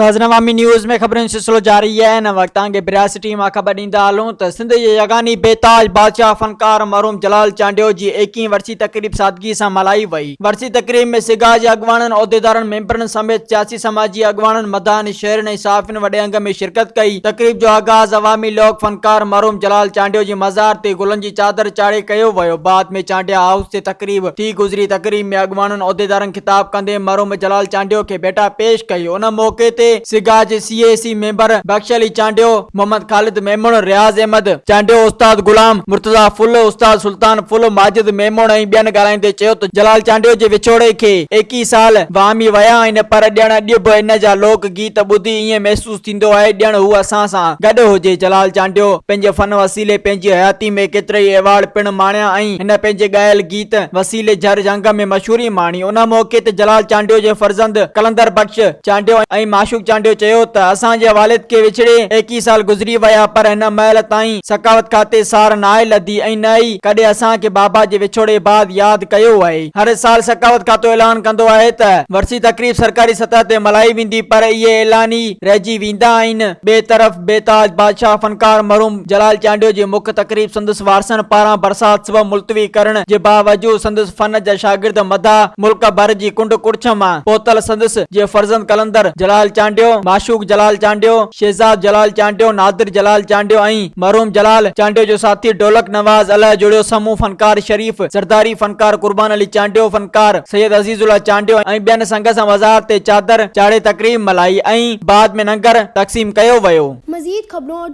ناظرين عوامي نيوز ۾ خبرن جو سلسلو جاري آهي هن وقت توهان کي بريا سٽي مان خبر ڏيندا هلون ته سنڌ جي يگاني بيتاج بادشاهه فنڪار مرحوم جلال چانڊيو جي ايڪيهين ورسي تقريب سادگي سان ملهائي وئي ورسي تقريب ۾ سگا جي اڳواڻن، عهديدارن، ميمبرن سميت سياسي سماجي اڳواڻن، مداحن، شهرين ۽ صحافين وڏي انگ ۾ شرڪت ڪئي. تقريب جو آغاز عوامي لوڪ فنڪار مرحوم جلال چانڊيو جي مزار تي گلن جي چادر چاڙهي ڪيو ويو بعد ۾ چانڊيا هائوس تي تقريب ٿي گذري تقريب ۾ اڳواڻن عهديدارن خطاب ڪندي مرحوم جلال چانڊيو کي ڀيٽا پيش ڪئي ان موقعي تي سگا جي C E C member Bux Ali Chandio, Muhammad Khalid Memon, Riaz Ahmed Chandio, استاد غلام مرتضيٰ ڦل، استاد سلطان ڦل، ماجد ميمڻ ۽ ٻين ڳالهائيندي چيو ته جلال چانڊيو جي وڇوڙي کي ايڪيهه سال وهامي ويا آهن پر ڄڻ اڄ به ان جا لوڪ گيت ٻڌي ايئن محسوس ٿيندو آهي ڄڻ هو اسان سان گڏ هجي. جلال چانڊيو پنهنجي فن وسيلي پنهنجي حياتي ۾ ڪيترائي ايوارڊ پڻ ماڻيا ۽ هن پنهنجي ڳايل گيت گيت وسيلي جھر جھنگ ۾ مشھوري ماڻي. ان موقعي تي جلال چانڊيو جي فرزند قلندر بخش چانڊيو ۽ معشوق چانڊيو چيو ته اسان جي والد کي وڇڙي ايڪيهه سال گذري ويا پر هن مهل تائين سخاوت کاتي سار ناهي لڌي ۽ نه ئي ڪڏهن اسان کي بابا جي وڇوڙي بعد ياد ڪيو آهي. هر سال سخاوت کاتو اعلان ڪندو آهي ته ورسي تقريب سرڪاري سطح تي ملهائي ويندي پر اهي اعلان ئي رهجي ويندا آهن. ٻئي طرف بيتاج بادشاهه فنڪار مرحوم. جلال چانڊيو جي مک تقريب سندس وارثن پاران برسات سبب ملتوي ڪرڻ جي باوجود سندس فن جا شاگرد مداح ملڪ ڀر جي ڪنڊ ڪڙڇ مان پهتل سندس جي فرزند قلندر جلال چانڊيو، معشوق جلال چانڊيو، شهزاد جلال چانڊيو، نادر جلال چانڊيو ۽ مرحوم جلال چانڊيو جو ساٿي ڍولڪ نواز الهه جوڙيو سمون فنڪار شريف زرداري، فنڪار قربان علي چانڊيو، فنڪار سيد عزيز الله چانڊيو ۽ ٻين سنگ سان مزار تي چادر چاڙهي تقريب ملهائي ۽ بعد ۾ ننگر تقسيم ڪيو ويو. مزيد خبرون اور